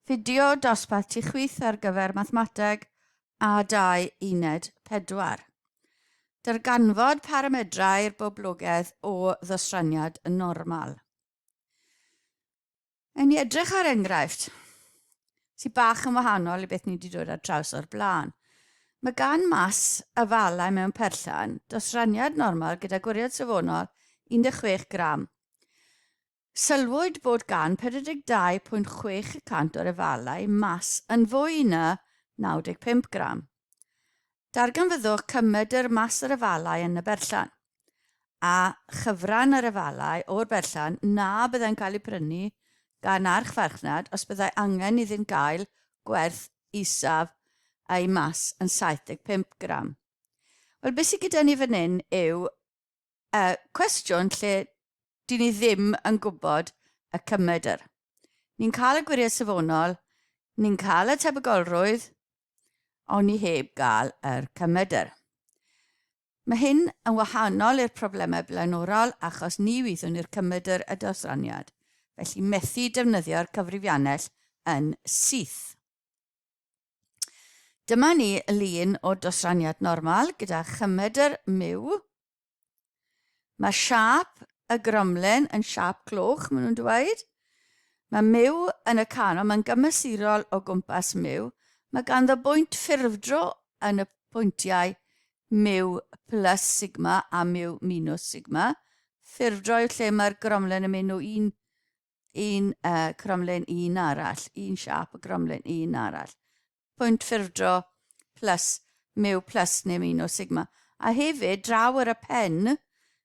Fideo dosbarth ti chwith ar gyfer mathemateg a dau uned pedwar. Darganfod paramedrau'r boblogaidd o ddostraniad yn normal. Yn ni edrych ar enghraifft sy'n bach yn wahanol i beth ni wedi dod ar traws o'r blaen. Mae gan mas y falau mewn perllan dosraniad normal gyda gwiriad safonol 16 gram. Sylwyd bod gan 42.6 y cant o'r efalau mas yn fwy na 95 gram. Darganfyddwch cymedr mas yr efalau yn y berllan, a chyfran yr efalau o'r berllan na byddai'n cael eu prynu gan archfarchnad os byddai angen iddynt gael gwerth isaf a'u mas yn 75 gram. Wel, beth sydd gyda ni fan hyn yw Y cwestiwn lle dyn ni ddim yn gwybod y cymedr. Ni'n cael y gwiriau safonol, ni'n cael y tebygolrwydd, ond ni heb gael yr cymedr. Mae hyn yn wahanol i'r problemau blaenorol achos ni wyddwn ni'r cymedr y dosraniad, felly methu defnyddio'r cyfrifiannell yn syth. Dyma ni lun o dosraniad normal gyda chymedr myw. Mae siap y gromlen yn siap cloch, maen nhw'n dweud. Mae myw yn y canol, mae'n gymesurol o gwmpas myw. Mae ganddo bwynt ffurfdro yn y pwyntiau myw plus sigma a myw minus sigma. Ffurfdro yw lle mae'r gromlen yn mynd o un un uh, cromlin i un arall, un siap o gromlin i un arall. Pwynt ffurfdro plus mew plus neu un o sigma. A hefyd, draw ar y pen,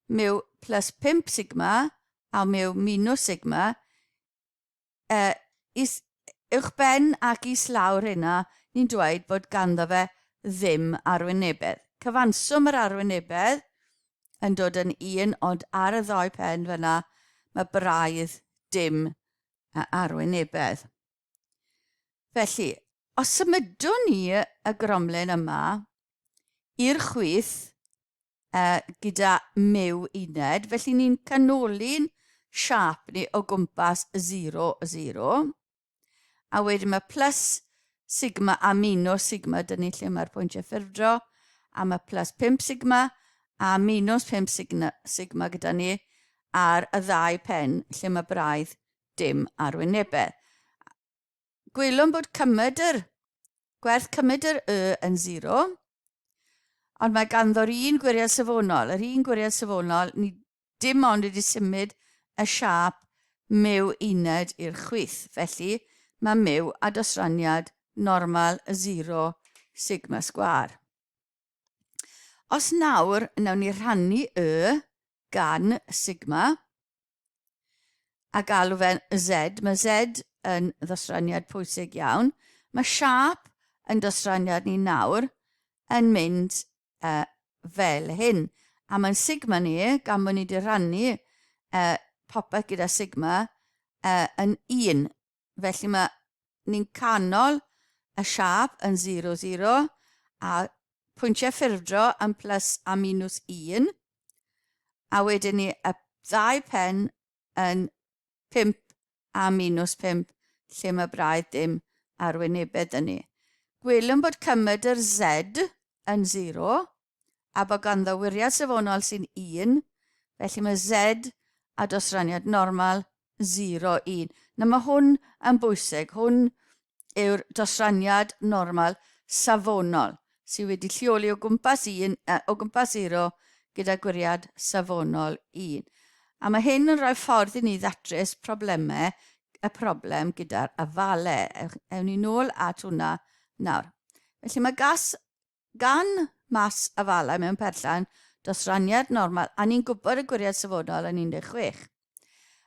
mew plus 5 sigma a mew minus sigma, uh, is, uwch ben ac is lawr hynna, ni'n dweud bod ganddo fe ddim arwynebedd. Cyfanswm yr arwynebedd yn dod yn un ond ar y ddoi pen fyna mae braidd dim a arwynebedd. Felly, os symudwn ni y gromlen yma i'r chwith uh, gyda mew uned, felly ni'n canoli'n siap ni o gwmpas 0, 0. A wedyn mae plus sigma a minus sigma, dyn ni lle mae'r pwyntiau ffurfdro, a mae plus 5 sigma a minus 5 sigma, sigma gyda ni ar y ddau pen lle mae braidd dim arwynebedd. Gwylwn bod cymryd yr gwerth cymryd yr y yn 0, ond mae ganddo'r un gwiriad safonol. Yr un gwiriad safonol, ni dim ond wedi symud y siâp myw uned i'r chwith, felly mae myw a dosraniad normal y zero sigma sgwâr. Os nawr, nawn ni rhannu y gan sigma a galw fe'n z. Mae z yn ddosraniad pwysig iawn. Mae siâp yn dosraniad ni nawr yn mynd e, fel hyn. A mae'n sigma ni, gan bod ni wedi rhannu e, popeth gyda sigma e, yn un. Felly mae ni'n canol y siap yn 0, 0, a pwyntiau ffurfdro yn plus a minus 1, a wedyn ni y ddau pen yn 5 a minws 5 lle mae braidd dim arwynebedd yn ni. Gwelwn bod cymed yr Z yn 0 a bod ganddo wiriad safonol sy'n 1, felly mae Z a dosraniad normal 0, 1. Na, mae hwn yn bwysig. Hwn yw'r dosraniad normal safonol sydd wedi lleoli o gwmpas 1, o gwmpas 0 gyda gwiriad safonol 1. A mae hyn yn rhoi ffordd i ni ddatrys problemau y problem gyda'r afalau. Ewn ni nôl at hwnna nawr. Felly mae gas Gan mas afalau mewn perllan dros raniad normal a ni'n gwybod y gwiriad safonol yn 16.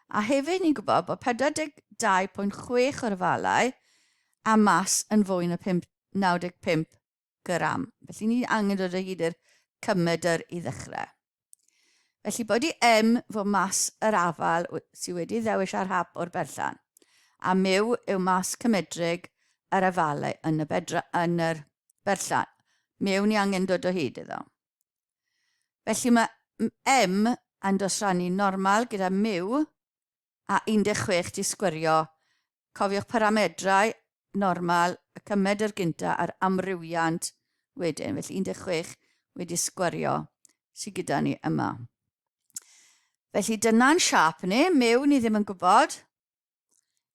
A hefyd ni'n gwybod bod 42.6 o'r afalau a mas yn fwy na 95 gram. Felly ni angen dod o hyd i'r cymedr i ddechrau. Felly bod i em fod mas yr afal sydd wedi ddewis ar hap o'r berllan, a myw yw mas cymedrig yr afalau yn y, bedra, yn yr berllan. Myw ni angen dod o hyd iddo. Felly mae em yn dosrannu normal gyda myw a 16 'di sgwirio. Cofiwch paramedrau normal y cymed yr gynta a'r amrywiant wedyn. Felly 16 wedi sgwirio sydd gyda ni yma. Felly dyna'n siap ni, mew ni ddim yn gwybod.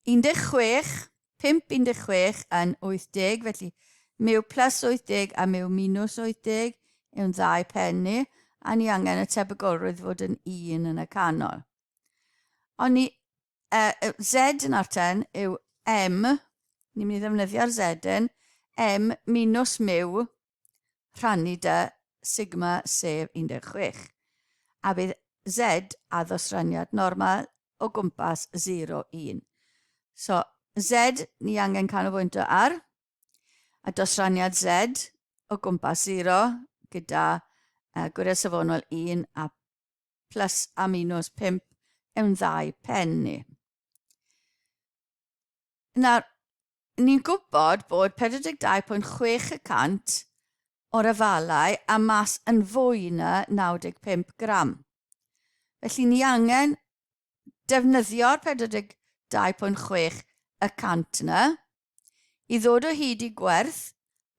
16, 5, 16 yn 80, felly mew plus 80 a mew minus 80 yw'n ddau pen ni, a ni angen y tebygolrwydd fod yn un yn y canol. Ond ni, uh, e, Z yn ar 10 yw M, ni'n mynd i ddefnyddio'r Z yn, M minus miw rhannu dy sigma sef 16. A bydd Z a ddosraniad normal o gwmpas 0, 1. So, Z ni angen canolbwyntio ar, a dosraniad Z o gwmpas 0 gyda uh, gwiriad safonol 1 a plus a minus 5 yn ddau pen ni. Nawr, ni'n gwybod bod 42.6 y cant o'r afalau a mas yn fwy na 95 gram. Felly ni angen defnyddio'r 42.6 y cant yna, i ddod o hyd i gwerth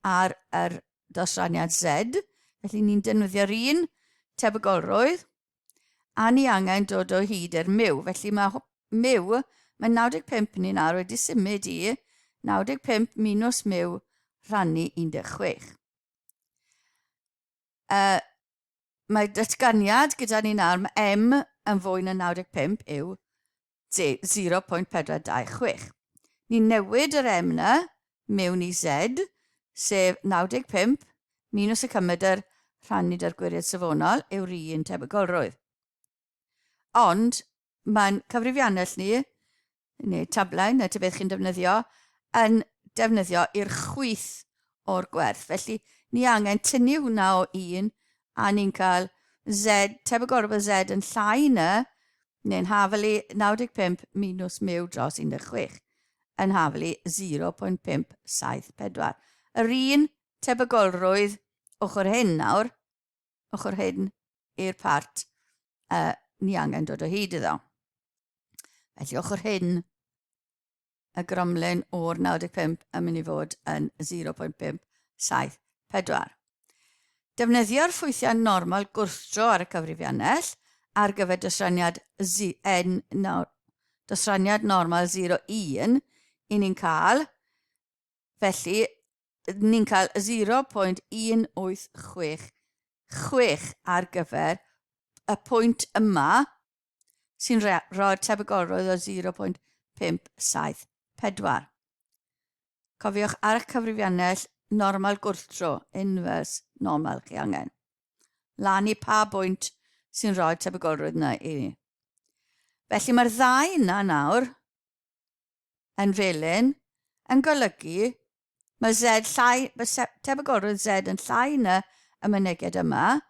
ar yr dosraniad Z, felly ni'n defnyddio'r un tebygolrwydd, a ni angen dod o hyd i'r miw. Felly mae miw, mae 95 ni'n ar wedi symud i 95 minus miw rhannu 16. Uh, mae datganiad gyda ni'n arm m yn fwy na 95 yw J 0.426. Ni'n newid yr M 'na mewn i Z, sef 95 minws y cymedr rhannu 'da'r gwiriad safonol yw'r un tebygolrwydd. Ond mae'n cyfrifiannell ni, neu tablau, neu tybedd chi'n defnyddio, yn defnyddio i'r chwith o'r gwerth. Felly, ni angen tynnu hwnna o 1, a ni'n cael Z, tebygol rhywbeth Z yn llai na, neu'n hafelu 95 minus miw dros 16, yn hafelu 0.574. Yr un tebygolrwydd ochr hyn nawr, ochr hyn i'r part uh, ni angen dod o hyd iddo. Felly ochr hyn y gromlin o'r 95 yn mynd i fod yn 0.574. Defnyddio'r ffwythiau normal gwrthdro ar y cyfrifiannell ar gyfer dosraniad ZN nawr, dosraniad normal 01, i ni'n cael, felly, ni'n cael 0.1866 ar gyfer y pwynt yma, sy'n rhoi'r tebygolrwydd o 0.574. Cofiwch ar eich cyfrifiannell normal gwrthdro, inverse normal, chi angen. Lan i pa bwynt sy'n rhoi'r tebygolrwydd yna i ni. Felly mae'r ddau yna nawr yn felyn yn golygu mae Z llai, mae tebygolrwydd Z yn llai na y myneged yma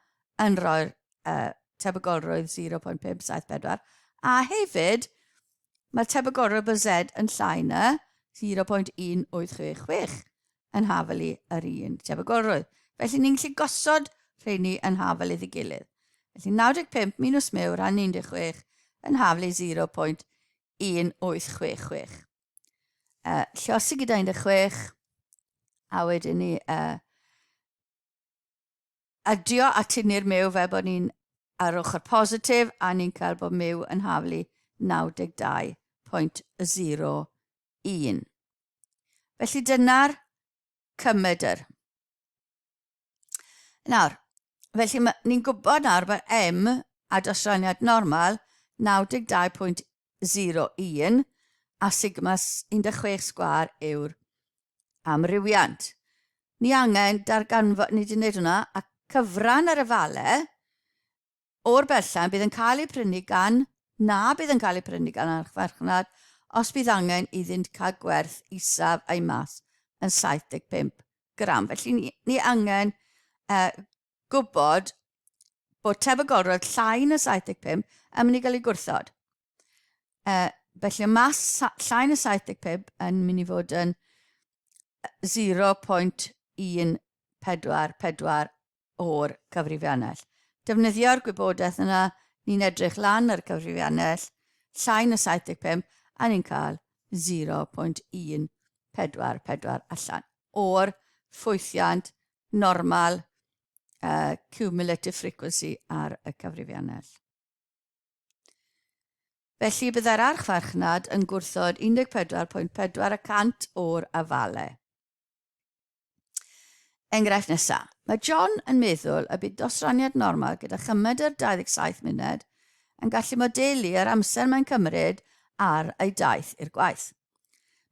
yn rhoi'r uh, tebygolrwydd 0.574 a hefyd mae'r tebygolrwydd bod Z yn llai na 0.1866 yn hafelu yr un tebygolrwydd. Felly ni'n gallu gosod rheini yn hafelu ei gilydd. Felly 95 minus mew rhan 16 yn hafelu 0.1866. 1866. Uh, llosi gyda 16, a wedyn ni uh, adio at ni'r mew fel bod ni'n ar ochr positif a ni'n cael bod mew yn haflu 92.01. Felly dyna'r cymedr. Nawr, felly ni'n gwybod nawr bod M a dosraniad normal 92.01 a sigma 16 sgwar yw'r amrywiant. Ni angen darganfod, ni wedi gwneud hwnna, a cyfran yr efalau o'r berllan bydd yn cael ei prynu gan na bydd yn cael ei prynu gan archfarchnad os bydd angen iddynt cael gwerth isaf a'i mas yn 75 gram. Felly ni, ni angen uh, gwybod bod tebygolrwydd llai na 75 yn mynd i gael ei gwrthod. Uh, felly y mas llai na 75 yn mynd i fod yn 0.144 o'r cyfrifiannell. Defnyddio'r gwybodaeth yna, ni'n edrych lan ar y cyfrifiannell, llai na 75, a ni'n cael 0.144 allan o'r ffwythiant normal uh, cumulative frequency ar y cyfrifiannell. Felly byddai'r archfarchnad yn gwrthod 14.4 y cant o'r afalau. Enghraifft nesa. Mae John yn meddwl y bydd dosraniad normal gyda chymedr 27 munud yn gallu modelu yr amser mae'n cymryd ar ei daith i'r gwaith.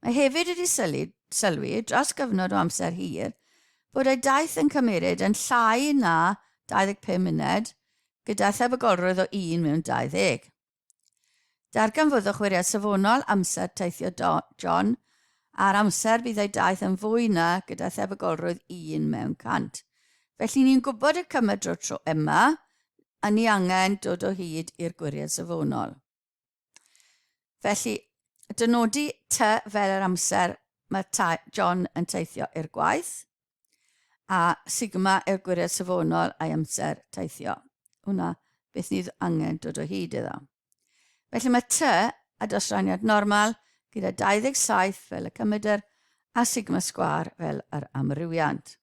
Mae hefyd wedi sylwi, sylwi dros gyfnod o amser hir bod ei daith yn cymryd yn llai na 25 munud gyda thebygolrwydd o un mewn 20. Darganfyddwch wiriad safonol amser teithio John a'r amser bydd ei daith yn fwy na gyda thebygolrwydd un mewn cant. Felly ni'n gwybod y cymer drwy'r tro yma, a ni angen dod o hyd i'r gwiriad safonol. Felly, dynodi ty fel yr amser mae John yn teithio i'r gwaith, a sigma er gwiriad safonol a'i amser teithio. Hwna beth ni angen dod o hyd iddo. Felly mae T a dosraniad normal gyda 27 fel y cymedr a sigma sgwar fel yr amrywiant.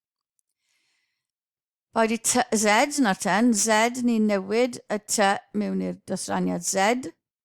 Boed i T, Z na'r ten, Z ni'n newid y T mewn i'r dosraniad Z,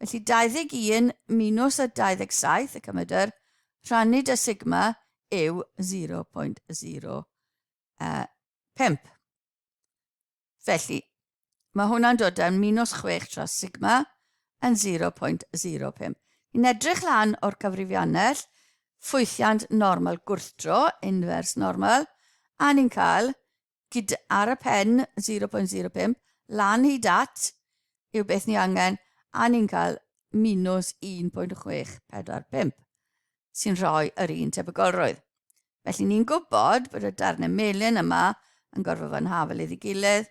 Felly 21 minus y 27 y cymedr rhannu dy sigma yw 0.05. Felly, mae hwnna'n dod yn minus 6 tra sigma yn 0.05. Yn edrych lan o'r cyfrifiannell, ffwythiant normal gwrthdro, inverse normal, a ni'n cael Gyda ar y pen 0.05 lan hyd at yw beth ni angen a ni'n cael minws 1.645 sy'n rhoi yr un tebygolrwydd. Felly ni'n gwybod bod y darnau melyn yma yn gorfod fod yn hafelydd i gilydd.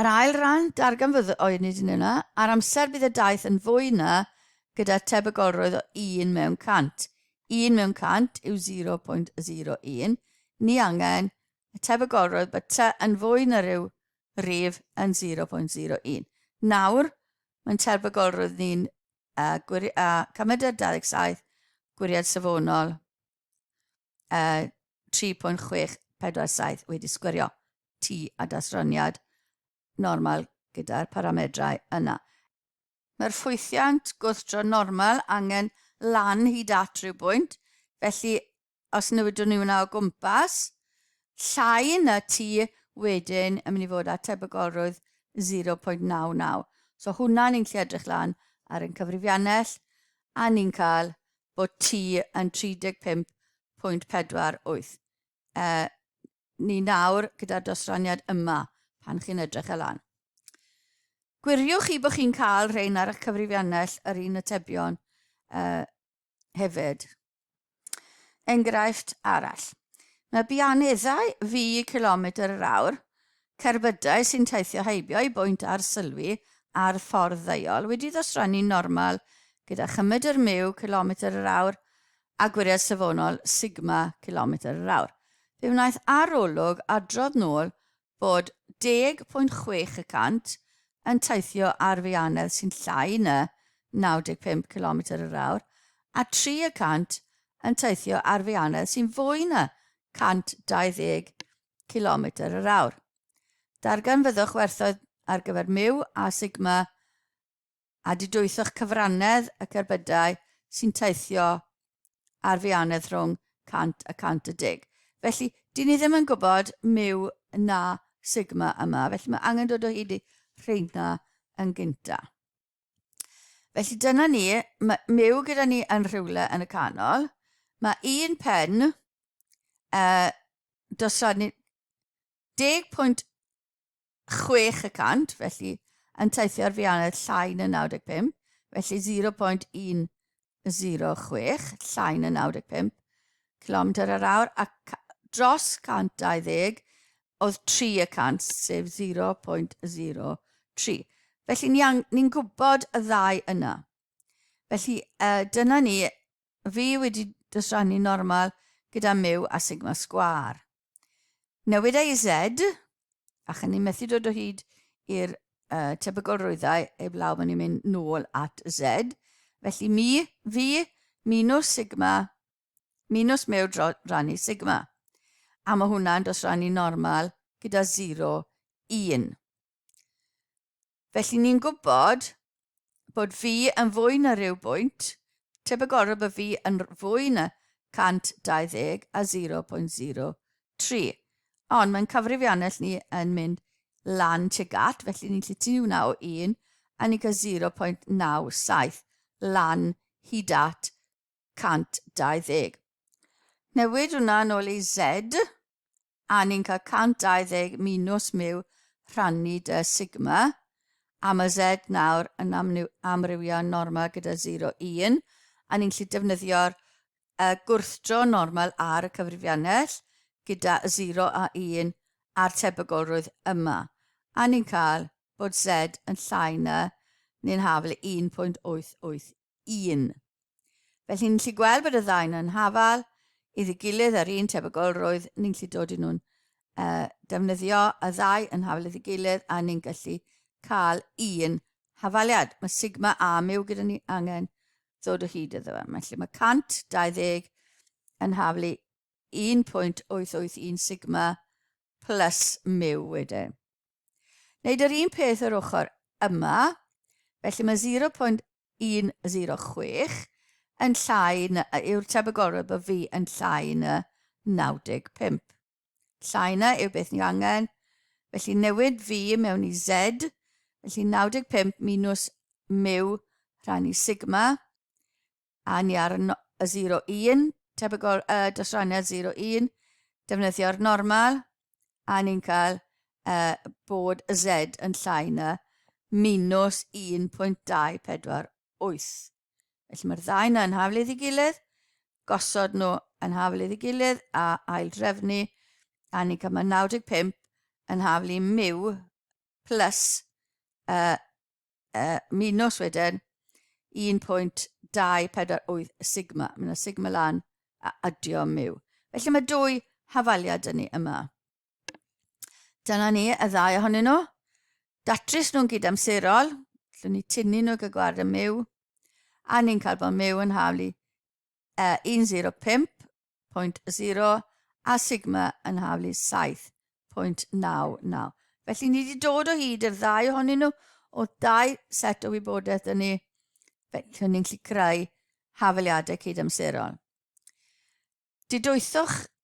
Yr ail ran, darganfydd o'i nid yn yna, ar amser bydd y daith yn fwy na gyda tebygolrwydd o 1 mewn 100. 1 mewn 100 yw 0.01. Ni angen y tebygolrwydd bod ty yn fwy na rhyw rif yn 0.01. Nawr, mae'n tebygolrwydd ni'n uh, gwiri, uh, cymeded 27, gwiriad safonol, uh, 3.647 wedi sgwirio tu a dasroniad normal gyda'r paramedrau yna. Mae'r ffwythiant gwrthdro normal angen lan hyd at rhyw bwynt, felly os newidwn ni hwnna o gwmpas, llai na tu wedyn yn mynd i fod â tebygolrwydd 0.99. So hwnna ni'n lle edrych lan ar ein cyfrifiannell a ni'n cael bod ti yn 35.48 e, ni nawr gyda'r dosraniad yma pan chi'n edrych e lan. Gwiriwch chi bod chi'n cael rhain ar eich cyfrifiannell yr un atebion uh, hefyd. Enghraifft arall. Mae bianeddau fi kilometr yr awr Cerbydau sy'n teithio heibio eu bwynt arsylwi ar ffordd ddeuol wedi ddosrannu'n normal gyda chymedr myw cilometr yr awr a gwiriad safonol sigma cilometr yr awr. Fe wnaeth arolwg adrodd nôl bod 10.6 y cant yn teithio ar feianedd sy'n llai na 95 cilometr yr awr a tri y cant yn teithio ar feianedd sy'n fwy na 120 cilometr yr awr. Darganfyddwch werthoedd ar gyfer miw a sigma a didwythoch cyfrannedd y cerbydau sy'n teithio ar fianedd rhwng 100 a 110. Felly, dyn ni ddim yn gwybod miw na sigma yma, felly mae angen dod o hyd i rheina yn gyntaf. Felly dyna ni, mae myw gyda ni yn rhywle yn y canol. Mae un pen uh, dosod ni 10.6 y cant, felly yn teithio ar fianedd llai na 95, felly 0.106, llai na 95 km yr awr, a dros 120, oedd tri y cant, sef 0.03. Felly ni'n ni, ni gwybod y ddau yna. Felly uh, dyna ni, fi wedi dosrannu normal gyda miw a sigma sgwar. Newid ei Z, a chynnu methu dod o hyd i'r uh, tebygol rwyddau heb law mae'n mynd nôl at Z. Felly mi, fi, minus sigma Minus mew dro rannu sigma. A mae hwnna'n dros rannu normal gyda 0, 1. Felly ni'n gwybod bod fi yn fwy na rhyw bwynt, tebygolrwydd bod fi yn fwy na 120 a 0.03. Ond mae'n cyfrifiannell ni yn mynd lan tuag at, felly ni'n lle tu hwnna o 1, a ni'n cael 0.97 lan hyd at 120. Newid hwnna yn ôl i Z, a ni'n cael 120 minus miw rhannu dy sigma, a mae Z nawr yn amrywio normal gyda 0, 1, a ni'n gallu defnyddio'r uh, gwrthdro normal ar y cyfrifiannell gyda 0 a 1 a'r tebygolrwydd yma, a ni'n cael bod Z yn llai na neu'n hafel 1.88. 1. Felly, ni'n lli gweld bod y ddau nhw'n hafal iddi gilydd ar un tebygolrwydd, ni'n lli dod i nhw'n uh, defnyddio y ddau yn hafal iddi gilydd a ni'n gallu cael un hafaliad. Mae sigma A miw gyda ni angen ddod o hyd iddo fe. Felly mae 120 yn haflu 1.881 sigma plus miw wedyn. Wneud yr un peth yr ochr yma, felly mae 0.106 yn llai na, yw'r tebygolrwydd bod fi yn llai na 95. Llai na yw beth ni angen, felly newid fi mewn i Z, felly 95 minus mu rhan i sigma, A ni ar no y 0 1, tebygol y dosraniad 0 1, defnyddio'r normal, a ni'n cael e, bod y z yn llai na minus 1.248. Felly mae'r ddau yna yn haflydd i gilydd, gosod nhw yn haflydd i gilydd a ail drefnu, a ni'n cael mae 95 yn haflu miw plus uh, uh, minus wedyn 1.248 sigma. Mae yna sigma lan a adio miw. Felly mae dwy hafaliad yn ni yma. Dyna ni y ddau ohonyn nhw. Datrys nhw'n gyd amserol. Llwn ni tynnu nhw gyda gwared y miw. A ni'n cael bod miw yn haflu a 105.0 a sigma yn haflu 7.99. Felly ni wedi dod o hyd i'r ddau ohonyn nhw o dau set o wybodaeth yn ni, felly ni'n gallu creu hafaliadau cydamserol. Didwythoch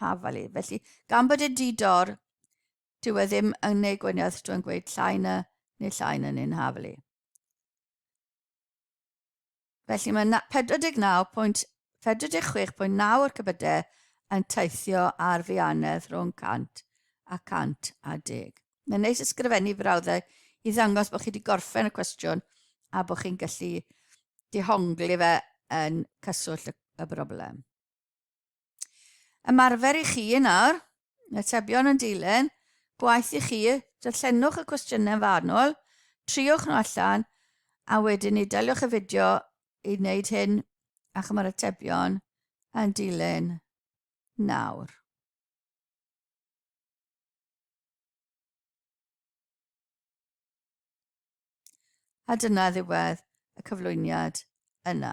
Hafali. Felly, gan bod e'n di-dor, dyw e ddim yn ei gwaniaeth drwy'n gweud llai na neu llai na neu'n Hafali. Felly mae 49.46.9 o'r cybydau yn teithio ar fianedd rhwng 100 a 100 a deg. Mae'n neis ysgrifennu frawddau i ddangos bod chi wedi gorffen y cwestiwn a bod chi'n gallu dihongli fe yn cyswllt y broblem. Ymarfer i chi yn awr, atebion yn dilyn, gwaith i chi, darllenwch y cwestiynau yn fanwl, triwch nhw allan, a wedyn ni daliwch y fideo i wneud hyn a chymryd atebion yn dilyn nawr. A dyna ddiwedd y cyflwyniad yna.